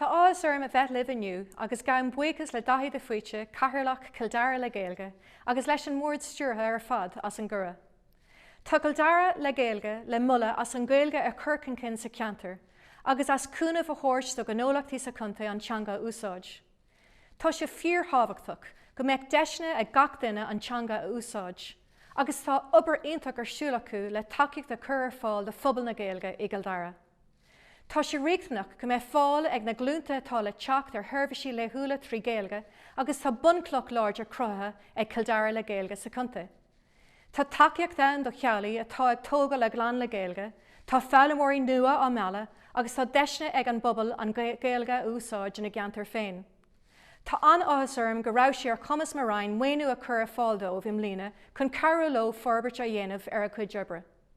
Tá áthas orm a bheith libh inniu agus gabhaim buíochas le Daithí de Faoite, Cathaoirleach Chill Dara le Gaeilge, agus leis an mBord Stiúrtha ar fad as an gcuireadh. Tá Cill Dara le Gaeilge le moladh as an Ghaeilge a chur chun cinn sa cheantar agus as cúnamh a thabhairt do ghnólachtaí sa chontae an teanga a úsáid. Tá sé fíor-thábhachtach go mbeadh deiseanna ag gach duine an teanga a úsáid agus tá obair iontach ar siúl acu le tacaíocht a chur ar fáil do phobal na Gaeilge i gCill Dara. Tá sé riachtanach go mbeadh fáil ag na glúnta atá le teacht ar sheirbhísí laethúla trí Ghaeilge agus tá bunchloch láidir cruthaithe ag Cill Dara le Gaeilge sa chontae. Tá tacaíocht ann do theaghlaigh atá ag tógáil a gclann le Gaeilge, tá foghlaimeoirí nua á mealladh agus tá deiseanna ag an bpobal an Ghaeilge a úsáid ina gceantar féin. Tá an-áthas orm go raibh sé ar chumas mo Roinn maoiniú a chur ar fáil dóibh i mbliana chun cabhrú leo forbairt a dhéanamh ar a gcuid oibre.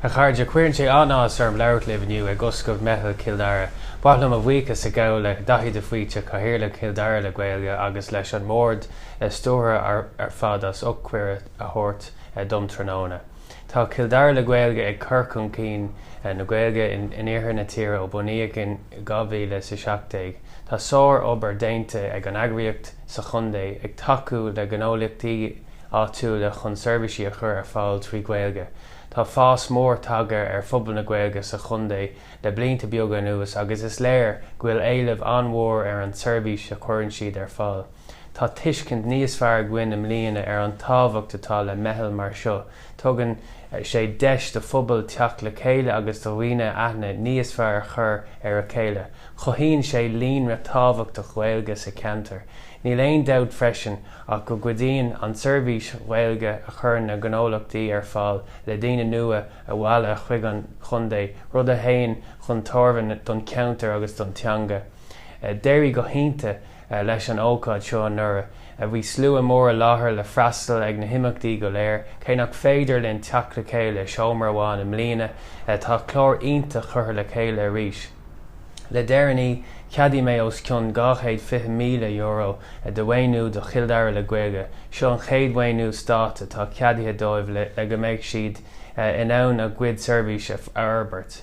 A chairde, Cuireann sé an-áthas orm labhairt libh inniu ag oscailt Meitheal Chill Dara. Ba mhaith liom mo bhuíochas a ghabháil le Daithí de Faoite, Cathaoirleach Chill Dara le Gaeilge agus leis an mBord Stiúrtha ar fad as ucht cuireadh a thabhairt dom tráthnóna. Tá Cill Dara le Gaeilge ag cur chun cinn na Gaeilge in iarthar na tíre ó bunaíodh é in 2017. Tá sár-obair déanta ag an eagraíocht. sa chontae ag tacú le gnólachtaí áitiúla chun seirbhísí a chur ar fáil trí Ghaeilge. Tá fás mór tagtha ar phobal na Gaeilge sa chontae le blianta beaga anuas agus is léir go bhfuil éileamh an-mhór ar an tseirbhís a chuireann siad ar fáil. Tá tuiscint níos fearr againn i mbliana ar an tábhacht atá le meitheal mar seo, Tugann sé deis do phobail teacht le chéile agus do dhaoine aithne níos fearr a chur ar a chéile. Cothaíonn sé líonra tábhachtach Ghaeilge sa cheantar. Níl aon dabht freisin ach go gcuidíonn an tseirbhís Ghaeilge a chuireann na gnólachtaí ar fáil le daoine nua a mhealladh chuig an chontae, rud a théann chun tairbhe don cheantar agus don teanga. D'éirigh go hiontach. leis an ócáid seo anuraidh. Bhí slua mór i láthair le freastal ar na himeachtaí go léir. Cé nach féidir linn teacht le chéile i seomra amháin i mbliana, tá clár iontach curtha le chéile arís. Le deireanaí, ceadaigh mé os cionn €220,000 de mhaoiniú do Chill Dara le Gaeilge. Seo an chéad mhaoiniú stáit atá ceadaithe dóibh le go mbeidh siad in ann a gcuid seirbhísí a fhorbairt.